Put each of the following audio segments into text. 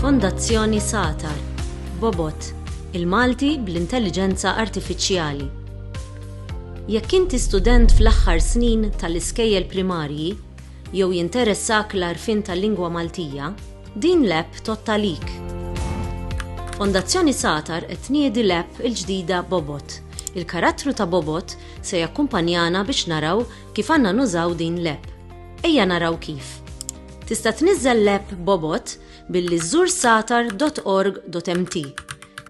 Fondazzjoni Satar, Bobot, il-Malti bl-Intelliġenza Artifiċjali. Jekk inti student fl-aħħar snin tal-iskejjel primarji jew jinteressak l-arfin tal-lingwa Maltija, din l-app tottalik. Fondazzjoni Satar qed tniedi l-app il-ġdida Bobot. Il-karattru ta' Bobot se jakkumpanjana biex naraw kif għandna nużaw din l-app. Ejja naraw kif. Tista' tniżżel l-app Bobot billi żżur satar.org.mt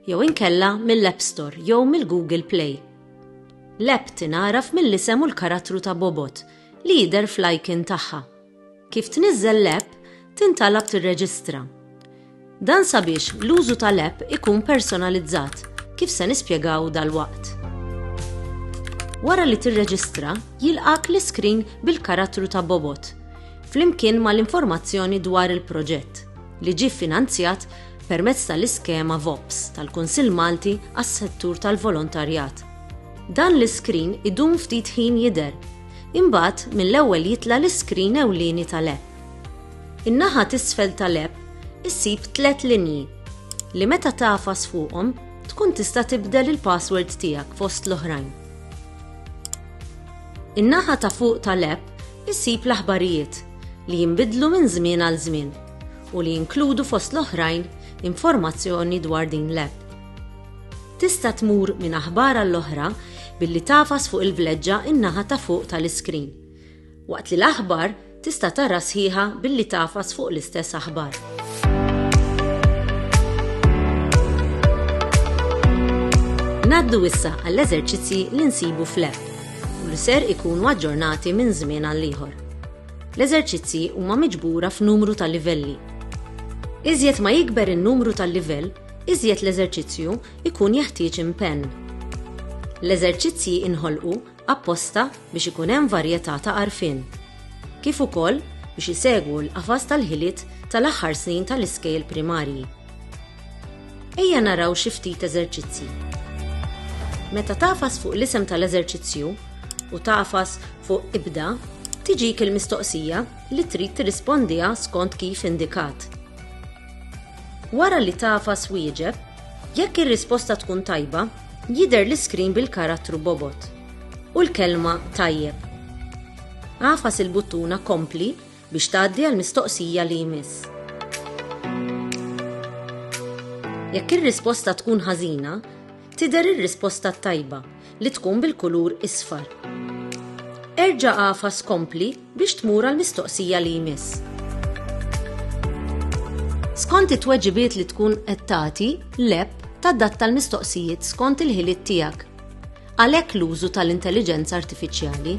jew inkella mill-App Store jew mill-Google Play. L-app tingħaraf mill-isem u l-karattru ta' Bobot li jidher fl-icon tagħha. Kif tniżżel l-app, tintalab tirreġistra. Dan sabiex l-użu tal-app ikun personalizzat, kif se nispjegaw dalwaqt. Wara li tirreġistra, jilqgħek l-iskrin bil-karattru ta' bobot, flimkien mal-informazzjoni dwar il-proġett, li ġie ffinanzjat permezz tal-iskema VOPS tal-Kunsill Malti għas-Settur tal-Volontarjat. Dan l-iskrin idum ftit ħin jidher Imbagħad mill-ewwel jitla' l-iskrin ewlieni tal-app. In-naħa t'isfel tal-app issib tliet linji li meta tagħfas fuqhom tkun tista' tibdel il-password tiegħek fost l-oħrajn. In-naħa ta' fuq tal-app issib l-aħbarijiet li jinbidlu minn żmien għal żmien u li jinkludu fost l-oħrajn informazzjoni dwar din l-app. Tista' tmur minn aħbar għall-oħra billi tagħfas fuq il-vleġġa n-naħa ta' fuq tal-iskrin, waqt li l-aħbar tista' tara sħiħa billi tagħfas fuq l-istess aħbar. Ngħaddu issa għall-eżerċizzji li nsibu fl-app u li ser ikunu aġġornati minn żmien għal ieħor. L-eżerċizzji huma miġbura f'numru ta' livelli. Iżjed ma jikber in-numru tal-livell, iżjed l-eżerċizzju jkun jeħtieġ impenn. L-eżerċizzji inħolqu apposta biex ikun hemm varjetà ta' għarfien, kif ukoll biex isegwu l-qafas tal-ħiliet tal-aħħar snin tal-iskejjel primarji. Ejja naraw xi ftit eżerċizzji. Meta tafas fuq l-isem tal-eżerċizzju u tafas fuq ibda, tiġik il-mistoqsija li trid tirrispondiha skont kif indikat. Wara li tagħfas wieġeb, jekk ir-risposta tkun tajba, jidher l-iskrin bil-karattru bobot u l-kelma Tajjeb. Agħfas il-buttuna Kompli biex tgħaddi għall-mistoqsija li jmiss. Jekk ir-risposta tkun ħażina, tidher ir-risposta t-tajba li tkun bil-kulur isfar. Erġa' agħfas kompli biex tmur għall-mistoqsija li jmiss. Skont it-tweġibiet li tkun qed tagħti, l-app tadatta l-mistoqsijiet skont il-ħiliet tiegħek. Għalhekk l-użu tal-intelliġenza artifiċjali.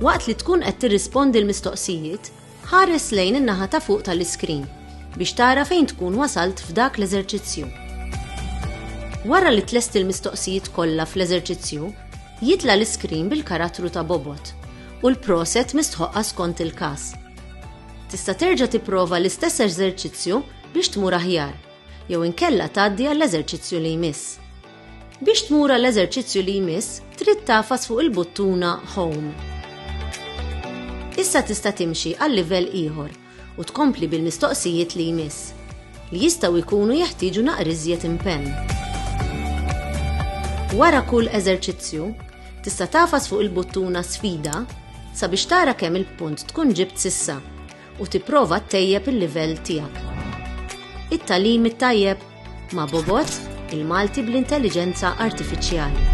Waqt li tkun qed tirrispondi l-mistoqsijiet, Ħares lejn in-naħa ta' fuq tal-iskrin biex tara fejn tkun wasalt f'dak l-eżerċizzju. Wara li tlesti l-mistoqsijiet kollha fl-eżerċizzju, jitla' l-iskrin bil-karattru ta' bobgħod u l-proset mistħoqqa skont il-każ. Tista' terġa' tipprova l-istess eżerċizzju biex tmur aħjar, jew inkella tgħaddi għall-eżerċizzju li jmiss. Biex tmur għall-eżerċizzju li jmiss, trid tafas fuq il-buttuna Home. Issa tista' timxi għal livell ieħor u tkompli bil-mistoqsijiet li jmiss, li jistgħu jkunu jeħtieġu naqriżjed impenn. Wara kull eżerċizzju, tista' tafas fuq il-buttuna Sfida sabiex tara kemm il-punt tkun ġibt sissa. u tipprova ttejjeb il-livell tiegħek. It-tagħlim it-tajjeb ma' Bobot, il-Malti bl-intelliġenza artifiċjali.